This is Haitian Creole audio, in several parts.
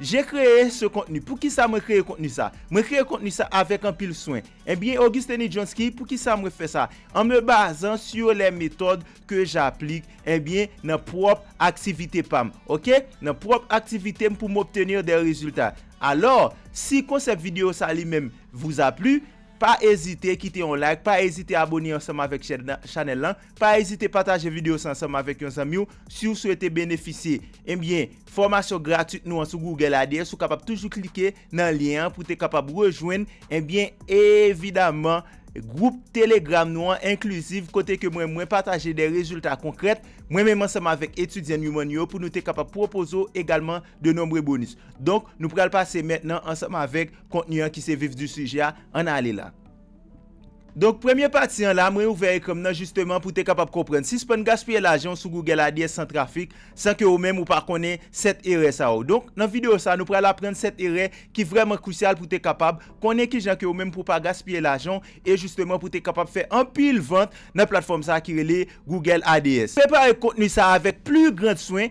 J'ai cree ce contenu Poukisa mwen kreye kontni sa Mwen kreye kontni sa avèk anpil swen Ebyen Auguste Nidjonsky poukisa mwen fè sa An me bazan sur les méthodes que j'applique ebyen nan pwòp aktivite pa m ok nan pwòp aktivite m pou m obtenir des résultats Alors si konsèp video sa li menm vous a plu pa ezite kite yon like pa ezite abone ansanm avèk chèn chanèl lan. Pa ezite pataje video sa ansanm avèk yon zanmi w si w swete benefisye ebyen fòmasyon gratuit nou an sou Google Ads ou kapab toujou klike nan lyen an pou w te kapab rejwenn ebyen evidaman gwoup telegram nou an inclusive kote ke mwen mwen pataje de rezilta konkrèt mwen menm ansanm avèk etidyan Newman yo pou nou te kapab pwopoze w egalman de nombre bonus donk nou pral pase mètnan ansanm avèk kontni an ki se vif du sujet a ann ale la. Donk premye pati an la mwen ouvè ekran m nan jisteman pou te kapab konprann sispann gaspiye lajan w sou Google Ads san trafik san ke ou menm ou pa konnen 7 erè sa yo donk nan videyo sa nou pral aprann 7 erè ki vrèman krisyal pou te kapab konnen kijan ke ou menm pou pa gaspiye lajan w e jisteman pou te kapab fè anpil vant nan platfòm sa ki rele Google Ads. Prepare kontni sa avèk pli grand swen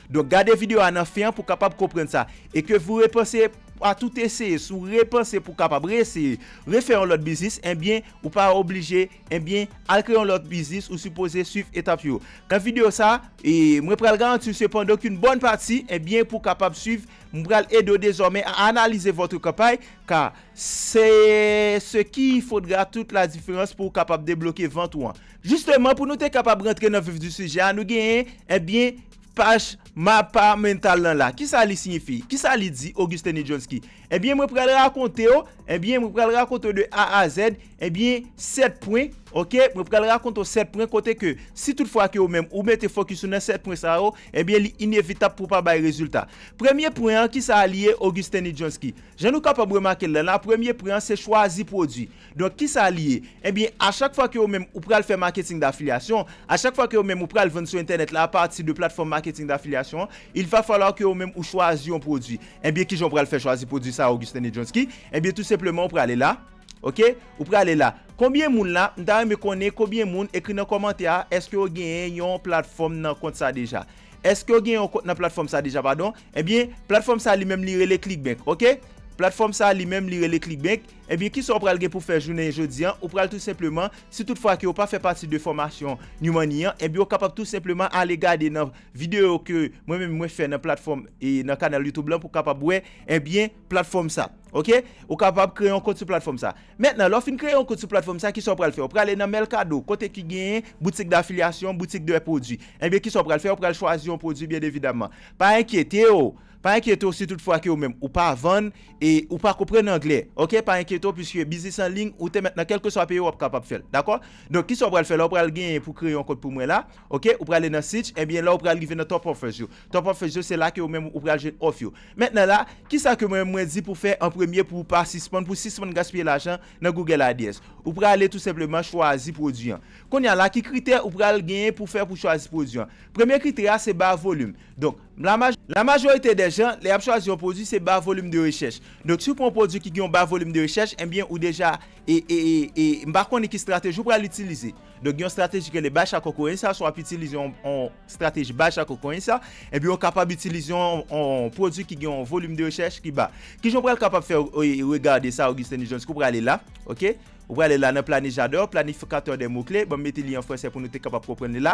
Donk gade video a nan fen an pou kapab konprann sa. E ke vou repanse a tout eseye, si w repanse pou kapab reeseye, refè yon lòt biznis, enbyen ou pa oblije, enbyen al kreye yon lòt biznis ou sipoze swiv etap yo. Nan video sa, mwen pral garanti w sepandan ke yon bòn pati, enbyen pou kapab swiv, mwen pral ede w dezòmè a analize votre campagne, ka se ce qui faudra toute la différence pou w kapab debloke vant ou an. Jisteman pou nou te kapab rantre nan vif di sijè a nou genyen ebyen paj Mapa Mental lan la. Kisa li siyifi? Kisa li di Auguste Nijonski? Ebyen mwen pral rakonte w ebyen mwen pral rakonte w de A a Z ebyen 7 pwen ok mwen pral rakonte w 7 pwen kote ke si tout fwa ke ou menm ou mete fokis ou nan 7 pwen sa yo ebyen li inevitab pou pa bay rezilta. Premye pwen an kisa li ye Auguste Nijonski? Jan nou kapab remake l lan la premye pwen an se chwazi pwodwi. Donk kisa li ye? Ebyen a chak fwa ke ou menm ou pral fè marketing d'affiliation, a chak fwa ke ou menm ou pral vann sou entènèt la a pati de platfòm marketing d'affiliation an, il va falloir ke ou menm ou chwazi yon pwodwi. Ebyen kijan ou pral fè chwazi pwodwi sa a Augustin Nedjonsky? Ebyen tou senpleman ou prale la, ok, ou prale la. Konbyen moun la, m ta renmen konnen konbyen moun, ekri nan kòmantè a, èske yo genyen yon platfòm nan kont sa deja? Èske yo genyen yon kont nan platfòm sa deja padon? Ebyen platfòm sa li menm li rele Clickbank, ok. Platfòm sa li menm li rele Clickbank. Ebyen kisa ou pral gen pou fè jounen jodi an, ou pral tou senpleman, si tout fwa ke ou pa fè pati de fòmasyon New Money an, ebyen ou kapab tou senpleman ale gade nan videyo ke mwen menm mwen fè nan platfòm e nan kanal YouTube lan pou kapab wè ebyen platfòm sa. Ok, ou kapab kreye yon kont sou platfòm sa. Mentnan lè ou fin kreye yon kont sou platfòm sa kisa ou pral fè, ou prale nan Mercado kote ki genyen boutik d'affiliation, boutik de produits. Ebyen kisa ou pral fè, ou pral chwazi yon produit byen evidamman. Pa enkyete ou! Pa enkyete w si tout fwa ke ou menm ou pa vann e ou pa konprann anglè ok pa enkyete w puiske biznis an lign ou te mèt nan kelkeswa peyi w ap kapab fè l dakò donk kisa w pral fè la w pral genyen pou kreye yon kont pou mwen la ok ou prale nan seach ebyen la w pral rive nan top offers yo top offers yo se la ke ou menm ou pral jwenn òf yo mentnan la kisa ke mwen menm mwen di pou fè an premye pou ou pa sispann pou sispann gaspiye lajan nan google ads ou prale tou senpleman chwazi pwodwi an kounya la ki kritè ou pral genyen pou fè pou chwazi pwodwi an premye kritè a se ba volume donk. La majorite dè jan, lè y ap chwazi yon pwodui, se ba volim de rechèch. Donk, si w pran yon pwodui ki gen yon ba volim de rechèch, enbyen, ou deja, e, e, e, e, m pa konnen ki estrateji ou pral itilize. Donk, gen yon estrateji ki rele Batch ak Okorensa, si w ap itilize yon, yon estrateji Batch ak Okorensa, enbyen, ou kapab itilize yon, yon, yon pwodui ki gen yon volim de rechèch ki ba. Ki jan ou pral kapab fè, e, e, regade sa, Augustin Nijean? Èske ou prale la? Ok. Ou prale la nan Planejadò, Planifikatè dè mo kle. Ban m mete li an franse pou nou te kapab konprann li la.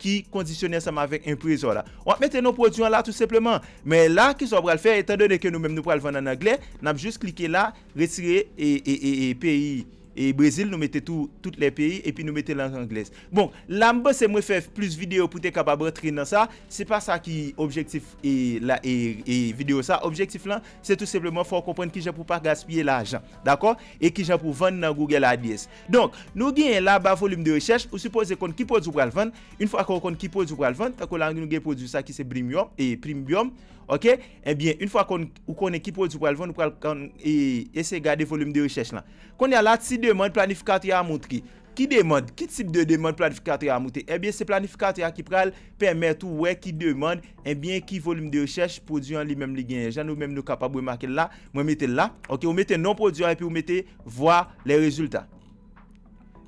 ki kondisyone ansanm avèk enpresò la. Wap mete non pwodwi an la tou senpleman. Men la kisa w pral fè etan done ke nou menm nou pral vann an anglè, nap jis klike la, retire e peyi e Brezil nou mete tou tout lè peyi epi nou mete lang anglèz. Bon, la m panse mwen fè plis videyo pou te kapab rantre nan sa, se pa sa ki objektif e la e e videyo sa, objektif lan se tou senpleman fè w konprann kijan pou pa gaspiye lajan. Dakò? E kijan pou vann nan Google AdS. Donk, nou genyen la ba volume de recherche, ou sipoze konn ki pwodwi ou pral vann, yn fwa ke ou konn ki pwodwi ou pral vann, tankou la nou gen pwodwi sa ki se Blimyòm, e Plimbum, ok, ebyen yn fwa konn, ou konnen ki pwodwi ou pral vann ou pral konn e eseye gade volume de recherche lan. Kounye a la si demand planifikatè a moutre, ki demand, ki tip de demand planifikatè a moutre, ebyen se planifikatè a ki pral pèmèt ou wè ki demand, ebyen ki volume de recherche pwodwi an li menm li genyen, jan nou menm nou kapab remake l la, mwen mete l la, ok, ou mete non pwodwi a epi ou mete. Voir les résultats.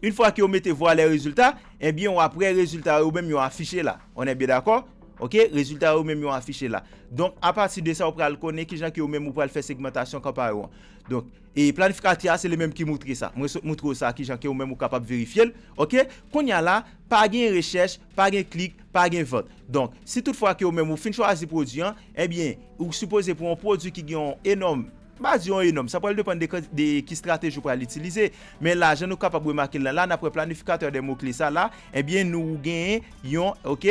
Une fwa ke ou mete voir les résultats, ebyen ou ap wè rezilta yo menm yo afiche la. On est bien d'accord? Ok, rezilta yo menm yo afiche la. Donk, a pati de sa ou pral konnen kijan ke ou menm ou pral fè segmentasyon kanpay ou an. Donk, e planifikatè a se li menm ki moutre sa. Mwen sot moutre ou sa kijan ke ou menm ou kapab verifye l. Ok, kounye a la, pa gen rechèch, pa gen klik, pa gen vant. Donk, si tout fwa ke ou menm ou fin chwazi pwodui an, ebyen, ou sipoze pou yon pwodui ki gen yon enòm, Baz yo an enòm, sa pral depann de ki strateji ou pral itilize. Men la, jan nou kapab remake l nan la, nan pwen planifikatè de mo kle sa la, ebyen nou ou genyen yon, ok,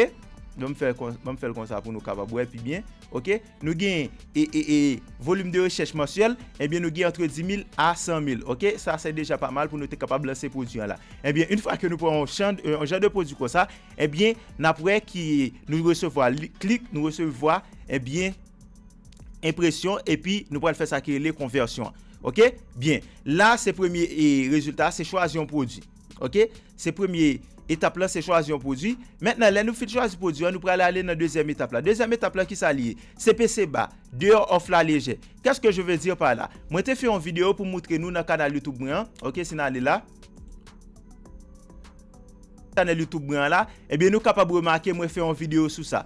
ban m fè kon, ban m fè l kon sa pou nou kapab wè pi byen, ok, nou genyen e, e, e, volim de rechèch mansyèl, ebyen nou genyen antre 10.000 a 100.000, ok, sa se deja pa mal pou nou te kapab lanse pwodui an la. Ebyen, in fwa ke nou pran yon chan, yon jan de pwodui kon sa, ebyen, n ap wè ki, nou resevwa li, klik, nou resevwa, ebyen. enpresyon epi nou pral fè sa ki rele konvèsyon ok byen la se premye e rezilta se chwazi yon pwodwi ok se premye etap la se chwazi yon pwodwi mentnan lè nou fin chwazi pwodwi an nou pral ale nan dezyèm etap la dezyèm etap la kisa li ye se pese ba deyò òf la lejè kès ke je ve di pa la mwen te fè yon videyo pou moutre nou nan kanal youtube mwen an ok si nou ale la kanal youtube mwen an la ebyen nou kapab remake mwen fè yon videyo sou sa.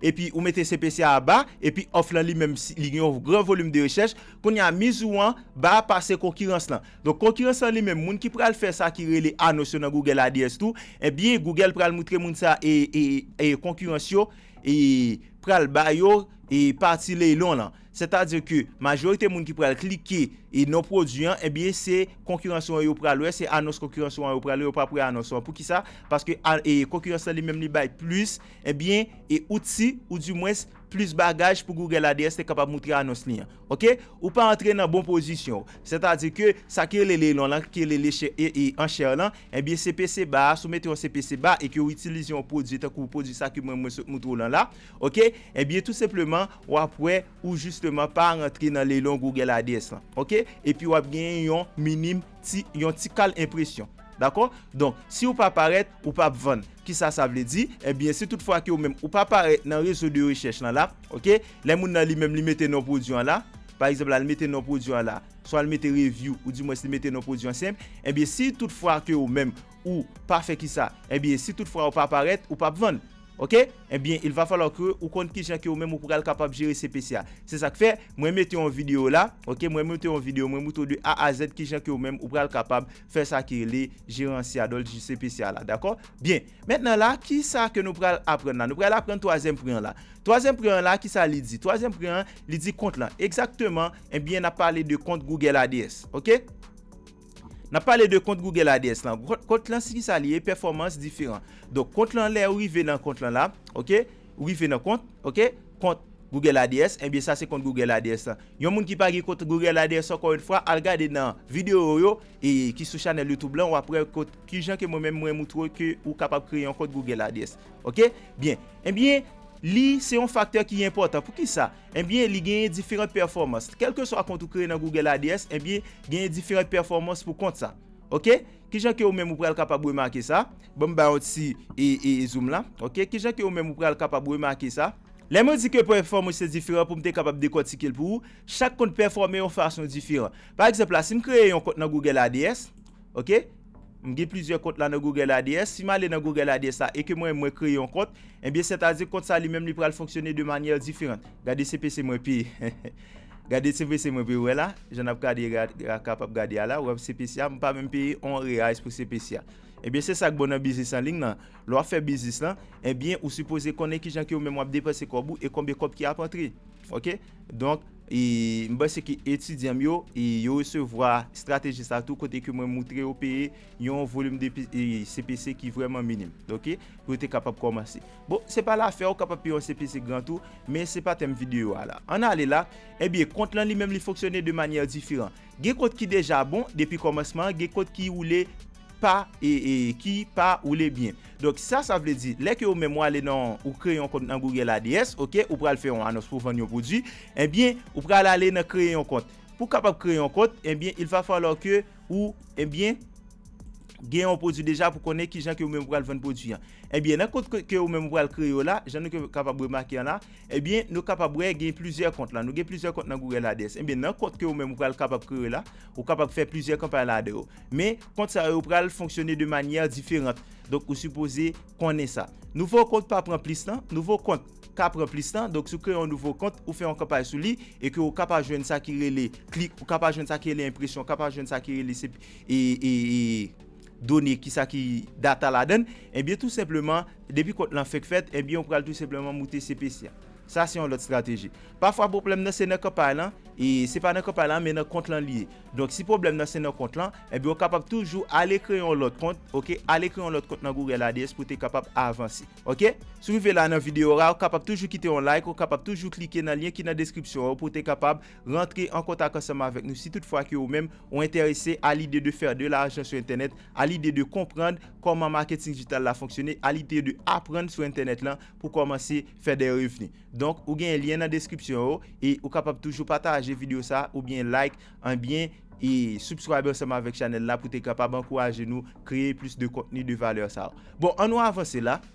epi ou mete CPC a ba, epi òf lan li menm li gen yon gran volim de rechèch, kounye a miz ou an ba pase konkirans lan. Donk konkirans lan li menm moun ki pral fè sa ki rele anons yo nan Google ADS tou, ebyen Google pral moutre moun sa e konkirans yo pral ba yo e pati leylon lan. Sètadi ke majorite moun ki pral klike e non pwodui an, ebyen se konkirans ou an yo pral wè, se anons konkirans ou an yo pral wè, yo pap wè anons ou an. Poukisa? Paske konkirans lan li menm li bay plis Ebyen, e outsi, ou di mwens, plis bagaj pou Google ADS te kapab moutre anons li an. Ok? Ou pa antre nan bon pozisyon w. Sètadi ke, sa ki rele leilon lan, ki rele le chè, e, e, anchè lan, ebyen se pese ba a, si w mete yon se pese ba e ke w itilize yon pwodui tankou pwodui sa ki mwen mwen sot moutre w lan la, ok, ebyen tou senpleman, w ap wè, ou jisteman pa rantre nan leilon Google ADS lan. Ok? Epi w ap genyen yon minim. Ti yon ti kal enpresyon dakò donk si ou pa parèt ou pap vann kisa sa vle di ebyen si tout fwa ke ou menm ou pa parèt nan rezo de rechèch lan la ok lè moun nan li menm li mete non pwodwi an la pa egzanp la li mete non pwodwi an la swa li mete review ou di mwens li mete non pwodwi an senp ebyen si tout fwa ke ou menm ou pa fè kisa ebyen si tout fra ou pa parèt ou pap vann ok ebyen il va falloir ke ou konn kijan ke ou menm ou pral kapab jere CPC a se sak fè mwen mete yon video la ok mwen mete yon video mwen moutre w de A a Z kijan ke ou menm ou pral kapab fè sa ki rele jeranse a dòt ji CPC a la dakò byen mentnan la kisa ke nou pral aprann la nou pral aprann twazyèm pre an la twazyèm pre an la kisa li di twazyèm pre an li di kont lan egzakteman ebyen nap pale de kont Google ADS ok. N ap pale de kont Google ADS lan. Kont lan si kisa li ye, pèfòmans diferan. Donk kont lan lè ou rive nan kont lan la, ok, ou rive nan kont, ok, kont Google ADS, enbyen sa se kont Google ADS lan. Yon moun ki pa gen kont Google ADS ankò yon fwa, al gade nan videyo yo e ki sou chanèl YouTube lan, w ap wè kot kijan ke mwen menm mwen moutre w ke ou kapab kreye yon kont Google ADS. Ok, byen, enbyen li se yon faktè ki enpòtan. Poukisa? Ebyen li genyen diferant pèfòmans. Kèlkeswa kont ou kreye nan Google ADS, ebyen genyen diferant pèfòmans pou kont sa. Ok, kijan ke ou menm ou pral kapab remake sa? Bon m bay yon ti zoom la. Ok, kijan ke ou menm ou pral kapab remake sa? Lè mwen di ke pèfòmans yo diferan pou m te kapab dekòtike l pou ou, chak kont pèfòme yon fason diferan. Pa egzanp la, si m kreye yon kont nan Google ADS, Ok M gen plizyè kont la nan Google ADS, si m ale nan Google ADS la e ke mwen mwen kreye yon kont, enbyen sètadi kont sa li menm li pral fonksyone de manyè diferant. Gade CPC mwen peye. Gade CPC mwen peye, ou wè la, jan n ap gade a kapab gade a la, ou wè CPC a, m pa menm peye on reais pou CPC a. Enbyen se sa k bon nan biznis an ling lan, lè w ap fè biznis lan, enbyen ou sipoze konnen kijan ke ou menm w ap depanse kòb ou e konbyen kòb ki ap antre. Ok, donk. M panse ke etidyan m yo, yo resevwa estrateji sa tou kote ke mwen moutre yo peye yon volim de CPC ki vreman minim. Ok? Pou yo te kapab komanse. Bon, se pa la fè ou kapab peye yon CPC gran tou, men se pa tèm videyo a la. An ale la, ebyen, kont lan li menm li fonksyone de manyè diferan. Gen kont ki deja bon depi komansman an gen kont ki woule pa ki pa woule byen donk sa sa vle di lè ke ou menm ou ale nan ou kreye yon kont nan Google ads ok ou pral fè yon anons pou vann yon pwodwi ebyen ou pral ale nan kreye yon kont pou kapab kreye yon kont ebyen il va falloir ke ou ebyen gen yon pwodwi deja pou konnen kijan ke ou menm ou pral vann pwodwi an ebyen nan kont ke ou menm ou pral kreye yo la jan nou kapab remake an la Ebyen nou kapab wè gen plizyè kont la, nou gen plizyè kont nan Google Ads, ebyen nan kont ke ou menm ou pral kapab kreye w la, ou kapab fè plizyè kanpay ladan yo. Men, kont sa yo pral fonksyone de manyè diferant, donk ou sipoze konnen sa. Nouvo kont pa pran plis tan, nouvo kont ka pran plis tan, donk si w kreye yon nouvo kont, ou fè yon kanpay sou li, e ke ou ka pa jwenn sa ki rele klik, ou ka pa jwenn sa ki rele enpresyon, ou ka pa jwenn sa ki rele se, e, e, e. done ki sa ki data ladann ebyen tou senpleman depi kont lan fek fèt ebyen ou pral tou senpleman moute CPC a sa se yon lòt strateji pafwa pwoblèm nan se nan kanpay lan e se pa nan kanpay lan men nan kont lan li ye donk si pwoblèm nan se nan kont lan ebyen ou kapab toujou ale kreye yon lòt kont ok ale kreye yon lòt kont nan Google ADS pou te kapab avanse ok si ou rive la nan video a ou kapab toujou kite yon like ou kapab toujou klike nan lyen ki nan deskripsyon an pou te kapab Rantre an kontak ansanm avèk nou si tout fwa ke ou menm ou entèrese a lide de fè de lajan sou entènèt, a lide de konprann kòman maketing dijital la fonksyone, a lide de aprann sou entènèt lan pou kòmanse fè dè revni. Donk ou gen lyen nan deskripsyon yo e ou kapab toujou pataje video sa ou byen like en byen e subscribe ansanm avèk chanèl la pou te kapab ankouraje nou kreye plis de kontni de valè sa. Bon an nou avanse la.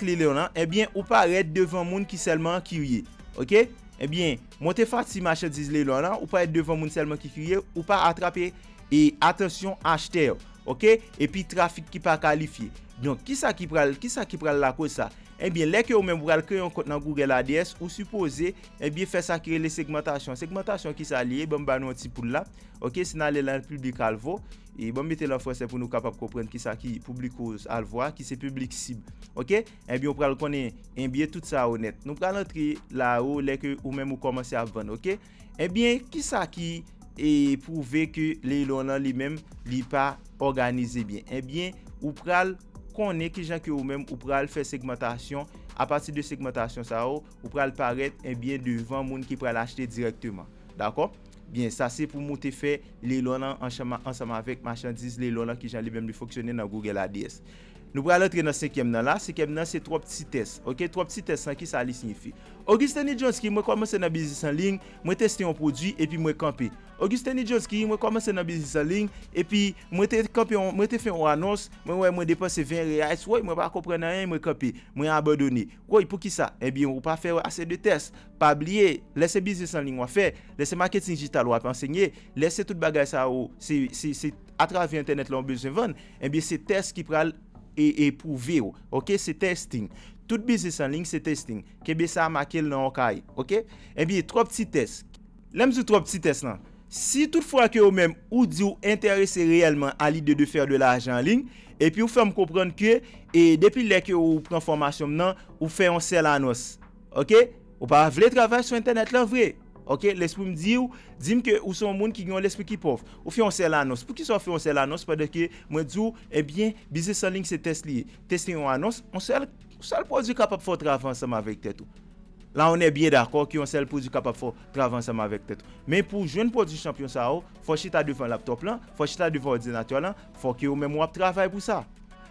Klilè lan ebyen ou parèt devan moun ki sèlman kirye ok ebyen monte fati machandiz Klilè lan ou parèt devan moun sèlman ki kirye ou pa atrape e atansyon achtè yo ok epi trafik ki pa kalifye donk kisa ki pral kisa ki pral lakoz sa ebyen lè ke ou menm ou pral kreye yon kont nan Google ads ou sipoze ebyen fè sa ki rele segmantasyon segmantasyon kisa li ye banm ba nou yon ti poul la ok si n ale lan Public Alvo E banm metel an fransè pou nou kapab konprann kisa ki public ou al vwa, ki se piblik sib. Ok, enbyen ou pral konnen enbyen tout sa yo nèt. Nou pral antre la yo lè ke ou menm ou kòmanse ap vann ok. Enbyen kisa ki e pwouve ke Leilon lan li menm li pa òganize byen. Enbyen ou pral konnen kijan ke ou menm ou pral fè segmantasyon, apati de segmantasyon sa yo ou pral parèt enbyen devan moun ki pral achte direkteman. Dakò? Byen, sa se pou mou te fè Leylon an ansanm avèk machandiz Leylon an kijan li menm li fonksyone nan Google ADS. Nou pral antre nan senkyèm nan la, senkyèm nan se twòp ti tès, ok, twòp ti tès lan kisa li siyifi? Auguste Nijonski, mwen kòmanse nan biznis an liy, mwen teste yon pwodwi epi mwen kanpe. Auguste Nijonski, mwen kòmanse nan biznis an liy, epi mwen te kanpe yon, mwen te fè yon anons, mwen wè mwen depanse 20 reais, woy mwen pa konprann anyen mwen kanpe, mwen abandone. Woy poukisa? Ebyen ou pa fè ase de tès. Pa bliye, lè se biznis an liy wap fè, lè se maketin dijital wap ansenye, lè se tout bagay sa yo, se atravè entènèt la ou bezwen vann, ebyen se tès ki pral pwouve ou. Ok, se testing. Tout biznis an liy se testing. Kenbe sa, make l nan yon kaye. Ok. Ebyen twòp ti tès. Lè m sou twòp ti tès lan. Si tout fwa ke ou menm ou di ou entèrese reyèlman a lide de fè de lajan an liy, epi ou fè m konprann ke e depi lè ke ou pran fòmasyon m nan, ou fè yon sèl anons. Ok. Ou pa vle travay sou entènèt lan vre. Ok. Lespri m di ou, di m ke ou se yon moun ki gen yon lespri ki pòv. Ou fè yon sèl anons. Poukisa ou fè yon sèl anons pandan ke mwen di ou, ebyen, biznis an liy se tès li ye. Tès se yon anons. Yon sèl, yon sèl pwodui kapab fè ou travay ansanm avèk tèt ou. La on è byen dakò ke yon sèl pwodwi kapab fè w travay ansanm avèk tèt ou. Men pou w jwenn pwodwi chanpyon sa yo, fò w chita devan laptòp lan, fò w chita devan òdinatè lan, fò ke ou menm ou ap travay pou sa.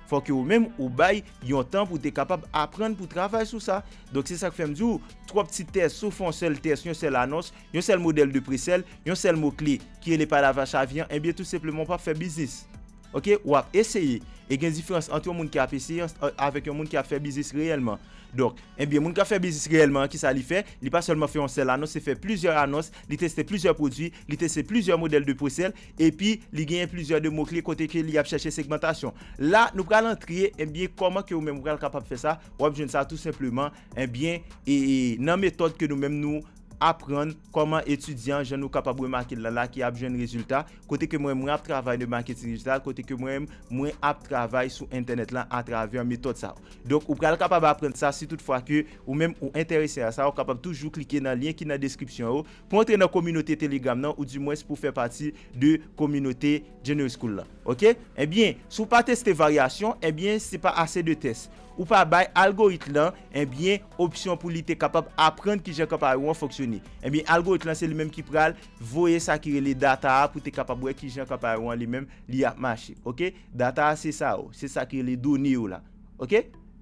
Fò ke ou menm ou bay yon tan pou w te kapab aprann pou w travay sou sa. Donk se sa k fè m di w, twòp ti tès, si w fè yon sèl tès, yon sèl anons, yon sèl modèl de presèl, yon sèl mo kle ki rele palavra chavyan, enbyen tou senpleman ou p ap fè biznis. Ok ou ap eseye e gen diferans ant yon moun ki ap eseye avèk yon moun ki ap fè biznis reyèlman donk ebyen moun kap fè biznis reyèlman an kisa li fè li pa sèlman fè yon sèl anons se fè plizyè anons li teste plizyè pwodwi li teste plizyè modèl de pwesèl epi li genyen plizyè de mo kle kote ke li ap chèche segmantasyon la nou pral antre ebyen kòman ke ou menm ou pral kapab fè sa wap jwenn sa tou senpleman ebyen ee nan metòd ke nou menm nou aprann kòman etidyan jan nou kapab remake l la la ki ap jwenn rezilta kote ke mwen mwen ap travay de maketing dijital kote ke mwen mwen ap travay sou entènèt lan atravè metòd sa yo donk ou pral kapab aprann sa si tout fwa ke ou menm ou entèrese a sa ou kapab toujou klike nan lyen ki nan deskripsyon yo pou antre nan kominote telegram nan ou di mwens pou fè pati de kominote Genius School lan ok ebyen si w pa teste varyasyon ebyen se pa ase de tès ou pa bay algorit lan ebyen. opsyon pou li te kapab aprann ki jan kanpay ou an fonksyone. Ebyen algorit lan se li menm ki pral voye sa ki rele data a pou te kapab wè ki jan kanpay ou an li menm li ap mache. Ok. Data a se sa yo. Se sa ki rele done yo la. Ok.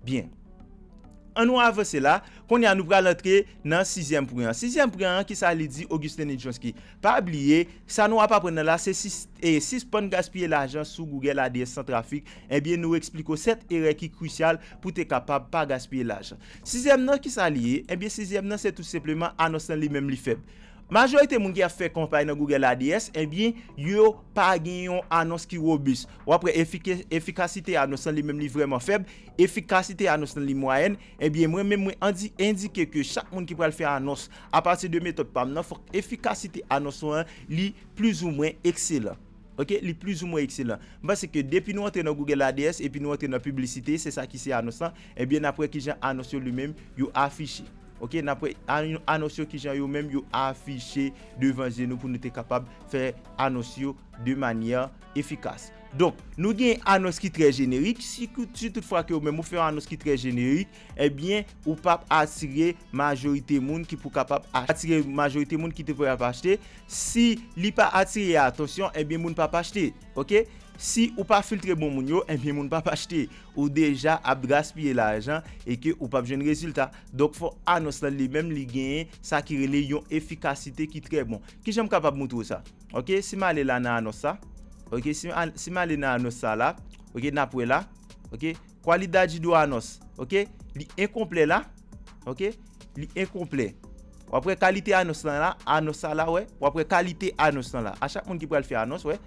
Byen. An nou avanse la. Kounye a nou pral antre nan sizyèm pwen an. Sizyèm pwen an ki sa li di Augustin Nijinsky. Pa bliye, sa nou ap aprann nan la se si sispann gaspiye lajan sou Google ADS san trafik, ebyen nou esplike w 7 erè ki krisyal pou te kapab pa gaspiye lajan. Sizyèm nan kisa li ye? Ebyen sizyèm nan se tout senpleman anons lan li menm li fèb. Majorite moun ki ap fè kanpay nan Google ADS ebyen yo pa gen yon anons ki robis. Wap wè efikasite anons lan li menm li vrèman fèb, efikasite anons lan li mwayèn, ebyen mwen menm mwen endike ke chak moun ki pral fè anons Apati de metòd pa m nan, fòk efikasite anons ou an li plizoumwen ekselan. Ok, li plizoumwen ekselan. M panse ke depi nou antre nan Google ADS epi nou antre nan piblisite, se sa ki se anons lan, ebyen n ap wè kijan anons yo li menm yo afiche. Ok, n ap wè anons yo kijan yo menm yo afiche devan je nou pou nou te kapab fè anons yo de manyè efikas. Donk, nou gen anons ki trè jenerik, si tout fwa ke ou menm ou fè yon anons ki trè jenerik, ebyen ou pap atire majorite moun ki pou kapab atire majorite moun ki te pou ap achte si li pa atire atansyon ebyen moun pap achte ok si ou pa filtre bon moun yo ebyen moun pap achte ou deja ap gaspiye lajan e ke ou pap jwenn rezilta donk fò anons lan li menm li genyen sa ki rele yon efikasite ki trè bon kijan m kapab moutre w sa ok si m ale la nan anons sa ok si m ale nan anons sa la ok nap wè la ok. Qualidade do anons ok li enkonplè la ok li enkonplè wap wè kalite anons lan la anons sa la wè wap wè kalite anons lan la a chak moun ki pral fè anons wè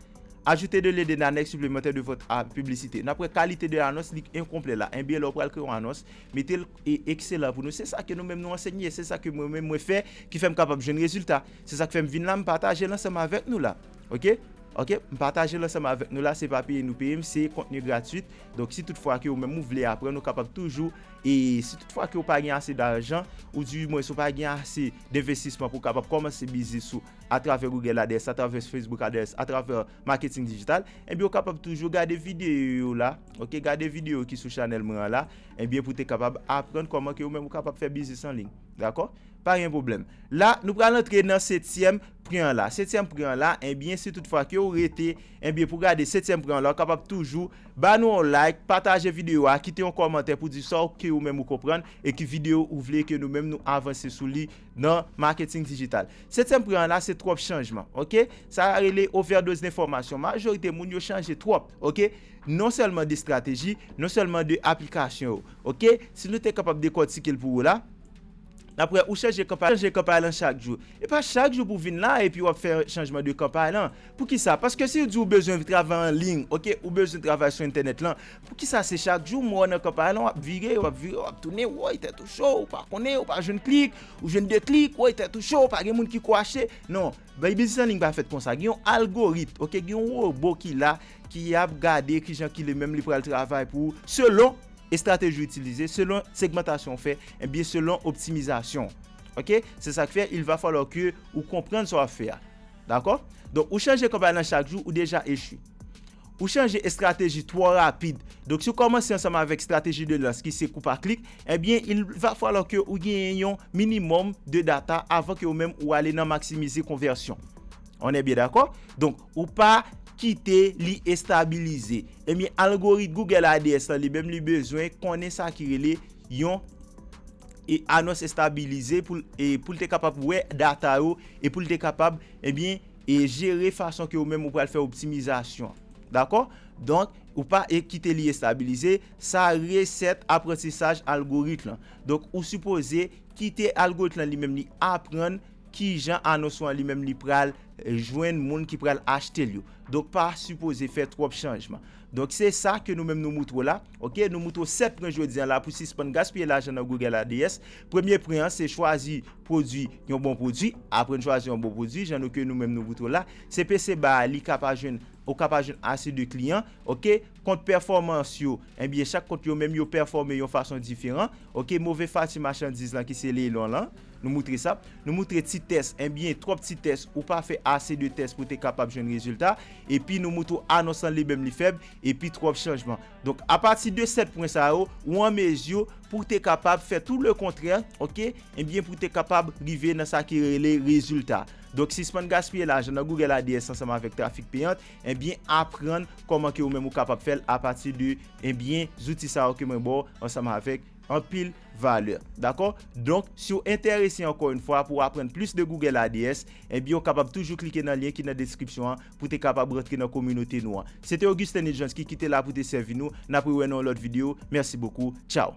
Ajouter de lede nanèk siplemantè de vòt a piblisite nap wè kalite de anons li enkonplè la enbyen lè w pral kreye yon anons mete l e ekselan pou nou se sa ke nou menm nou ansenye se sa ke mwen menm mwen fè ki fè m kapab jwenn rezilta se sa k fè m vin la m pataje l ansanm avèk nou la. Ok ok m pataje l ansanm avèk nou la se pa peye nou peye m se kontni gratwit donk si tout fwa ke ou menm ou vle aprann ou kapab toujou e si tout fwa ke ou pa gen ase dajan ou di mwens ou pa gen ase denvestisman pou kapab kòmanse biznis ou atravè Google Ads atravè Facebook Ads atravè marketing digital ebyen ou kapab toujou gade videyo yo la ok gade videyo ki sou chanèl mwen an la ebyen pou te kapab aprann kòman ke ou menm ou kapab fè biznis anliy dakò pa gen pwoblèm la nou pral antre nan setyèm pri an la, setyèm pri an la, enbyen si tout fwa ke ou rete, enbyen pou gade setyèm pri an la ou kapab toujou ba nou yon like, pataje video a, kite yon kòmantè pou di sa ou ke ou menm ou konprann e ki video ou vle ke nou menm nou avanse sou li nan Marketing Digital. Setyèm pri an la se twòp chanjman, ok, sa a rele overdose d'information, majorite moun yo chanje twòp, ok, non sèlman de strateji, non sèlman de aplikasyon yo, ok, si nou te kapab dekòtike l pou ou la. Daprè ou chanje kanpay lan chak jou. E pa chak jou pou vin la epi wap fè chanjman de kanpay lan. Poukisa? Paske si ou di ou bezwen travay an ligne ok ou bezwen travay sou entènèt lan poukisa se chak jou mwen wè nan kanpay lan wap vire wap vire wap tounen woy tèt ou cho ou pa konnen ou pa jwenn klik ou jwenn 2 klik woy tèt ou cho pa gen moun ki ko achte non. Bay biznis an ligne pa fèt konsa gen yon algoritm ok gen yon robo ki la ki ap gade kijan ki le menm li pral travay pou ou selon estrateji ou itilize selon segmantasyon ou fè ebyen selon optimizasyon ok se sak fè il va falloir ke ou konprann sa wap fè a dakò donk ou chanje kanpay lan chak jou ou deja echwe. Ou chanje estrateji twò rapid. Donk si w kòmanse ansanm avèk estrateji de lans ki se kou pa klik, ebyen il va falloir ke ou genyen yon minimum de data avan ke ou menm ou ale nan maximize konvèsyon. On est bien d'accord? Donk ou pa kite li estabilize. Ebyen algorit Google ADS lan li menm li bezwen konnen sa ki rele yon anons estabilize pou l te kapab wè data yo e pou l te kapab ebyen E jere fason ke ou menm ou pral fè optimizasyon. Dakò? Donk, ou pa e kite li estabilize, sa reset aprantisaj algorit lan. Donk, ou sipoze kite algorit lan li menm li aprann kijan anons ou an li menm li pral jwenn moun ki pral achte l yo. Donk, pa sipoze fè twòp chanjman. Donk, se sa ke nou menm nou moutre w la. Ok nou moutre w 7 pren jodi an la pou sispann gaspiye lajan nan Google ADS. Premye pren an se chwazi pwodwi yon bon pwodwi. Apre n chwazi yon bon pwodwi jan nou ke nou menm nou moutre w la, CPC ba a li ka pa jwenn ou ka pa jwenn ase de kliyan. Ok kont pèfòmans yo enbyen chak kont yo menm yo pèfòme yon fason diferan. Ok move fati machandiz lan ki se leilon lan nou moutre sa. Nou moutre ti tès enbyen twòp ti tès ou pa fè ase de tès pou te kapab jwenn rezilta. Epi nou moutre w anons lan li menm li fèb. epi twòp chanjman. Donk, apati de 7 pwen sa yo, ou an mezi pou w te kapab fè tou le kontrè, oke, ebyen eh pou w te kapab rive nan sa ki rele rezilta. Donk, sispann gaspiye lajan nan Google ADS ansanm avèk trafik peyant, ebyen eh aprann kòman ke ou menm ou kapab fè l apati de, ebyen, eh zouti sa yo ke mwen ba w ansanm avèk anpil valè. Dakò? Donk, si w enterese ankò yon fwa pou w aprann plis de Google ADS, ebyen ou kapab toujou klike nan lyen ki nan deskripsyon an. pou te kapab rantre nan kominote nou an. Se te Augustin Nidjanski ki te la pou te sèvi nou. N ap rewè nan yon lòt videyo. Mèsi bokou. Tchaw!